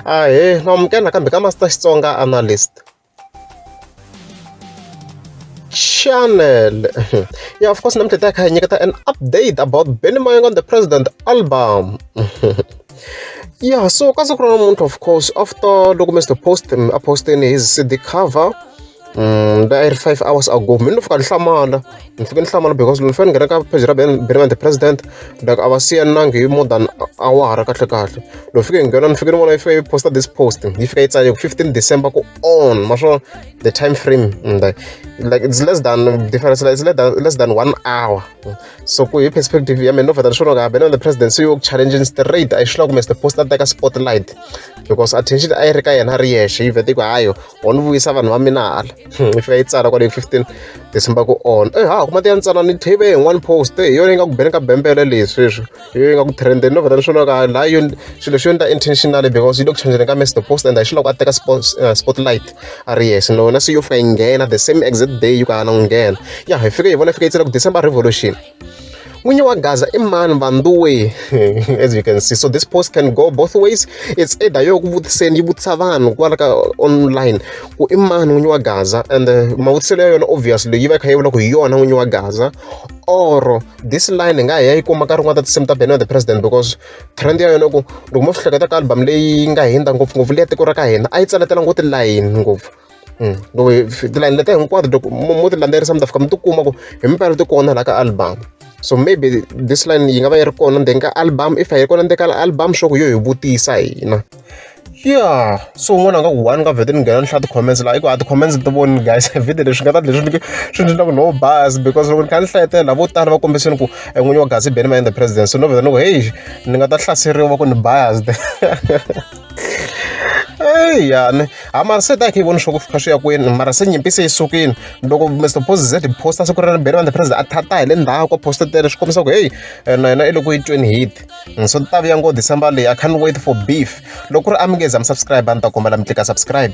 Ahee, na amukela nakambe ka Master Xitsonga Analyst. Channel. yeah, of course, namuntlha ta kha hi nyiketa an update about Benny Mayonga on the President album. yeah, so ka siku ra namuntlha of course after loko Mr Post a posteni his CD cover a yi ri five hours ago mina ni fika ni hlamala ni fike ni hlamala because ni fanele ni nghena ka page ra beremente president like a va siyanangi hi more than awara kahle kahle loko fike hi nghena ni fike ni vona yi fika yi posta this post yi fika yi tsale ku fifteen december ku on maswona the time frame mm, like, like it's less than difference like it's less than, less than one hour so ku hi perspective ya mina no vheta ni swona ka beremente president se yoku challenging straight a yi hlula kumbe the post a teka spotlight because attention a yi ri ka yena a ri yexe yi vhete ku hayo on vuyisa vanhu va mina hala yi fika yi tsala kwale fifteen december ku on e ha kuma ti ya ni tsala ni tv hi one post hi yona yi nga ku beni ka bembele leyi sweswi hi yona yi nga ku trendeni no vheta ni swona ka laha yo swilo swi yo ni ta intentionally because yi le ku changeleni ka message the post and hi xiloko a teka eh, spotlight a ri yes nona se yo fika yi nghena the same exact day yi ku a na ku nghena ya hi fike hi vona yi fika yi tsala ku december revolution Munye wa Gaza i mani vanduwe as you can see so this post can go both ways it's either yo ku vutiseni yi vutisa vanhu kwala ka online ku i mani n'winyi wa Gaza and uh, mavutiselo ya yona obviously yi va kha yi vula ku hi yona n'winyi wa Gaza or this line hi nga hi ya yi kuma ka rin'wana ta tinsimu ta Benno the President because trend ya yona ku loko mo swi hleketa ka album leyi nga hundza ngopfungopfu leya tiko ra ka hina a yi tsaletela ngopfu tilayini ngopfu loko hi tilayini leta hinkwato loko mo mo ti landzelerisa mi ta fika mi tikuma ku himpela ti kona laha ka album so maybe this line yi nga va yi ri kona ndzeni ka album if a yi ri kona ndzeni ka album sure ku yo hi vutisa hina ya so un'wana a nga ku one ka vhete ni nghena ni hlaya ti-comments laha i ku a ti-comments ti voni guys vhete leswi nga ta leswi ni swi ni ku no bas because loko ni kha ni hlayetela lavo tala va kombiseni ku en'winyi wa gazi bene va endla president so no vheta ni ku heyi ni nga ta hlaseriwa va ku ni biased eya ni ha mara se ta yi kha yi vona swa ku fika swi ya kwini mara se nyimpi se yi sukile loko mr posize posta siku ra ribele vanhu president a thata hi le ndhawu ko posta tele swi kombisa ku heyi eh, na yena i loko yi tweni hit mm, so ta vuya ngo december leyi i can't wait for beef loko ku ri amingezi am subscribe a ni ta kombela mi tlika subscribe